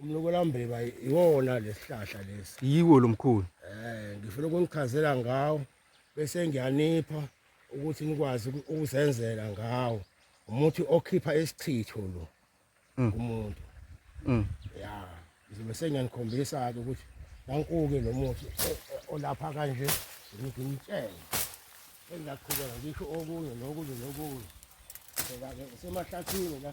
umlokolambiba iwona lesihlahla lesi yiwo lo mkhulu eh ngifuna ukungichazela ngawo bese ngiyanipha ukuthi nikwazi ukuzenzela ngawo umuthi okhipha isichitho lo mm. kumuntu mm. ya ngizobe sengiyanikhombisa ke ukuthi nankuke lo muthi olapha kanje ngimtshele engaqhubeka ngisho okunye nokunye nokunye semahlathini la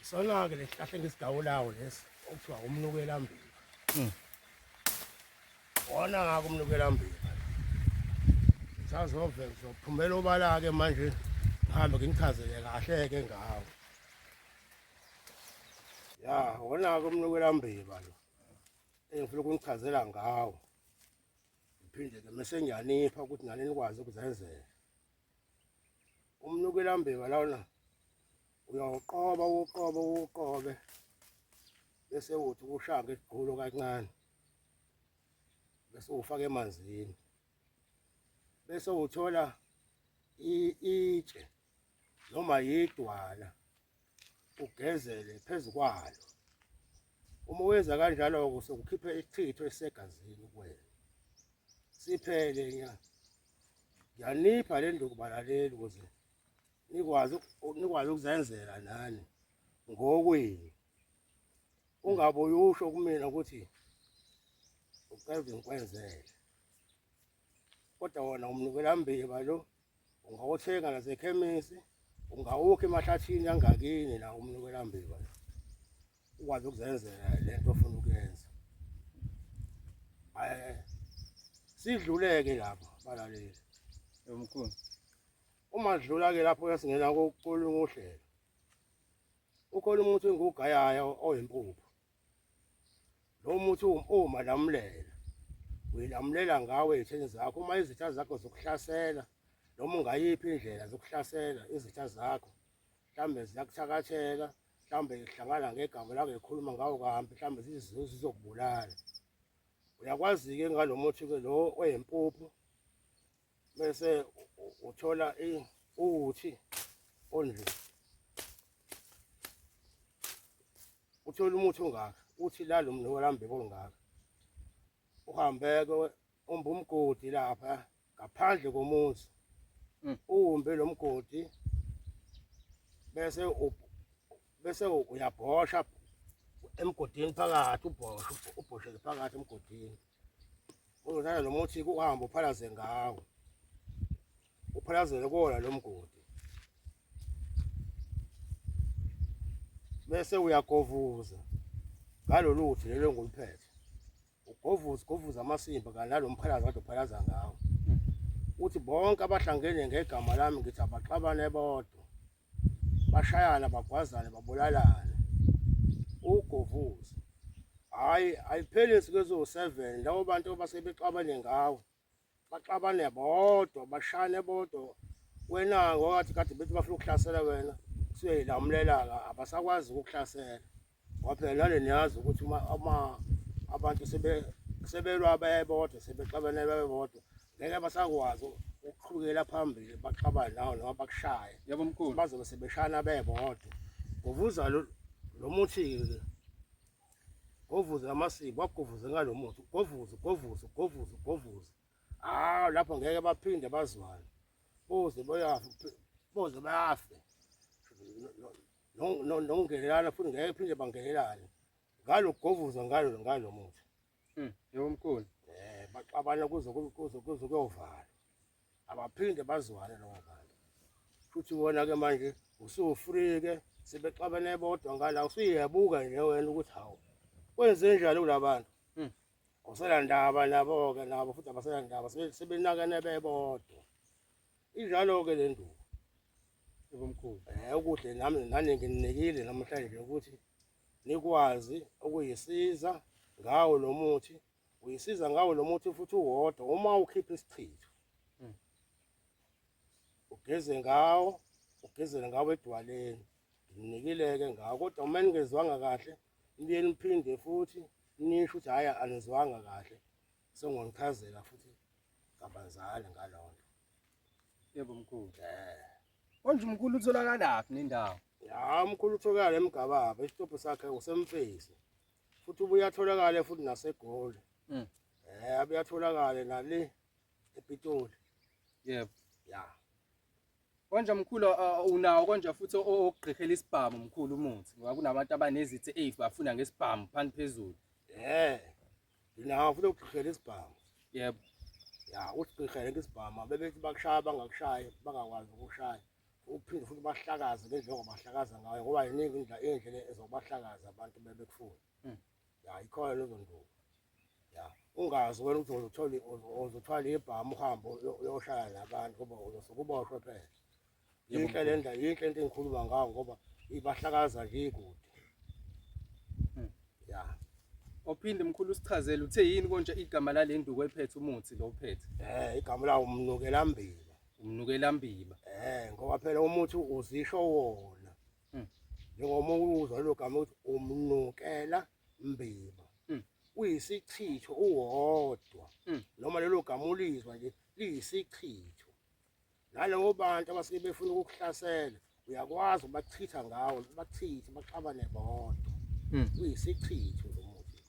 Isona-ke le sihlahla engisigawulawo lesi okuthiwa umnukelambili hmm. wona ngako umnukelambili sazove ngizophumela obala-ke manje ngihambe nginichazele kahle-ke ngawo ya wona-ke umnukelambili lo engifuna ukunichazela ngawo ngiphinde-ke mese ngiyanipha ukuthi nani nikwazi ukuzenzela umnukelambili lona uyawuqoba uqobe uqobe bese uthi ushaka isigqulo kancane bese ufaka emanzini bese uthola itshe noma yidwala ugezele phezu kwalo uma wenza kanjalo sokukhipha isithitho esegazini kuwena siphele ngiyanipha le nduku balaleli ukuze nikwazi nikwazi ukuzenzela nani ngokwenu ungabe uyusho kumina ukuthi uqeda ngikwenzele kodwa wona umnikela mbiba lo ungawuthenga nasekhemisi ungawukha emahlathini angakini la umnikela mbiba lo ukwazi ukuzenzela le nto ofuna ukuyenza sidluleke lapho balaleli yomkhulu Uma sidlula ke lapho yasingena kokuqolunga uhlelo. Ukhona umuthi engugayaya oyimpuphu. Lo muthi uma lamulela uyalamulela ngawe ezitheni zakho uma izitha zakho zokuhlasela noma ungayiphi indlela zokuhlasela izitha zakho mhlawumbe ziyakuthakathela mhlawumbe zihlangana ngegama lako ekhuluma ngawo kahambi mhlawumbe zizokubulala uyakwazi-ke ngalo muthi-ke lo oyempuphu bese uthola uthi only uthola umuthi ongaka uthi la lo mntu walambe kolungaka uhambeke umbe umgodi lapha ngaphandle komuzi mm. uwumbe lo mgodi bese bese uyabhosha emgodini phakathi ubhosha ubhoshele phakathi emgodini Uzodlala lo muthi kuhambe uphalaze ngawo. Uphalazele kona lo mgodi. Bese uyagovuza ngalolu uthi lelo ngoluphethe. Ugovuza govuza amasimba kanti lo mphalaza kade uphalaza ngawo. Uthi bonke abahlangene ngegama lami ngithi abaxabane bodwa. bashayana bagwazane babulalane ugovuza hayi ayipheli insuku eziwu-seven labo bantu basebexabane ngawo baxabane bodwa bashane bodwa wena ngokathi kade bethi bafuna ukuhlasela wena kuthiwe yilamulela-ka abasakwazi ukukuhlasela ngoba phela nale niyazi ukuthi uma uma abantu sebe sebelwa bebodwa sebexabene bebodwa ngeke basakwazi ukuqhubekela phambili baxabane nawo noma bakushaye yebo mkhulu bazobe sebeshana bebodwa ngovuza lo lo muthi-ke ngovuze amasiko wagovuze ngalo muthi govuze govuze govuze govuze hawu lapho ngeke baphinde bazwane boze boyafe boze bafe nokungenelana futhi ngeke phinde bangenelane ngalo kugovuza ngalo ngalo muthi mm yebo mkhulu eh baxabana kuze kuze kuze kuyovala abaphinde bazwane lowo bantu futhi wona ke manje usufrike sebexabene bodwa ngala usuyebuka nje wena ukuthi hawu kwenze njani kulabantu mm awusela ndaba nabo ke nabo futhi abasela ndaba sebenakene bebodwa Injalo ke le nduku. Ubumkhulu. Eh ukuhle nami nani ngininikile namhlanje ukuthi nikwazi ukuyisiza ngawo lo muthi uyisiza ngawo lo muthi futhi uwodwa uma ukhipha isichitho hmm. ugeze ngawo ugezele ngawo edwaleni nginikileke ngawo kodwa uma ningezwanga kahle nibuye niphinde futhi nisho ukuthi hhayi anizwanga kahle Sengwangichazela futhi kabanzana ngalonto. Yebo mkhulu. Eh. Konje umkhulu utholakalaphi nendawo? Ya umkhulu utholakala emgababa, isitobho sakhe usemfezi. Futhi ubuya atholakala futhi nasegoli. Mm. Eh abuya atholakala nale ePitoli. Yebo. Ya. Konje mkhulu unawo konje futhi ogqihela isibhamu mkhulu umuthi ngoba kunabantu abanezithi eyi bafuna ngesibhamu phansi phezulu. Eh. Ndinawo futhi ukugqirhela isibhamu. Yebo. Ya usigqirhele ngesibhamu bebethi bakushaya bangakushayi bangakwazi ukushaya. Uphinde futhi bahlakaze ngendlela ongabahlakaza ngayo ngoba yiningi indlela indlela ezobahlakaza abantu bebekufuna. Mm. Ya ikhona lezo nduku. Ya ungazi wena ukuthi uzotholi uzothwala ibhamu uhambe uyoshaya nabantu ngoba uzosukuboshwe phela. yinhle le ndlela yinhle into engikhuluma ngayo ngoba ibahlakaza le kude hmm. ya ophinde mkhulu usichazele uthe yini konje igama lale nduku ephethe umuthi lo uphethe eh igama lawo umnukela mbiba umnukela mbiba eh ngoba phela umuthi uzisho wona hmm. njengoba uzwa lo gama ukuthi umnukela mbiba hmm. uyisichitho uwodwa noma lelo gama ulizwa nje liyisichitho nalabo bantu abasuke befuna ukukuhlasela uyakwazi ubachitha ngawo bachithi baxabane bodwa hmm. uyisichitho lo muthi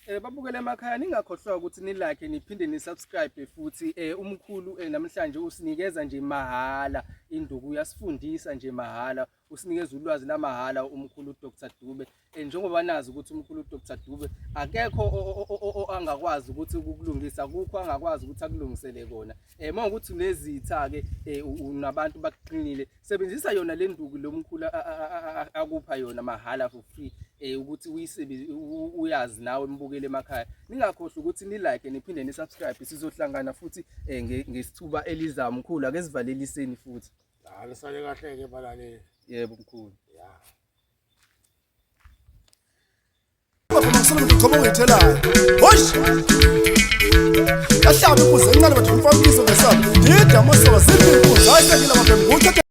um eh, babukele emakhaya ningakhohlwa ukuthi nilakhe niphinde nisubscribe futhi um umkhulu um namhlanje usinikeza nje mahhala induku uyasifundisa nje mahhala usinikeza ulwazi lamahhala umkhulu uDr Dube eh, njengoba nazi ukuthi umkhulu uDr Dube akekho angakwazi ukuthi ukulungisa kukho angakwazi ukuthi akulungisele kona eh mawukuthi nezitha ke eh, unabantu bakuqinile sebenzisa yona le nduku lomkhulu akupha yona mahhala for free eh ukuthi uyisebenzi uyazi nawe mbukele emakhaya ningakhohlwa ukuthi ni like niphinde ni subscribe sizohlangana futhi eh, ngesithuba elizayo mkhulu ake sivaleliseni futhi Ah, nisale kahle ke balaleli. Yebo mkhulu. Yeah. Ngifuna ngigqoke ngithelayo. Hosh! Kahlaba ukuze incane bathi umfana ubizo ngesabo. Yida amasoka ziphi inkundla ayisengile mabhembu.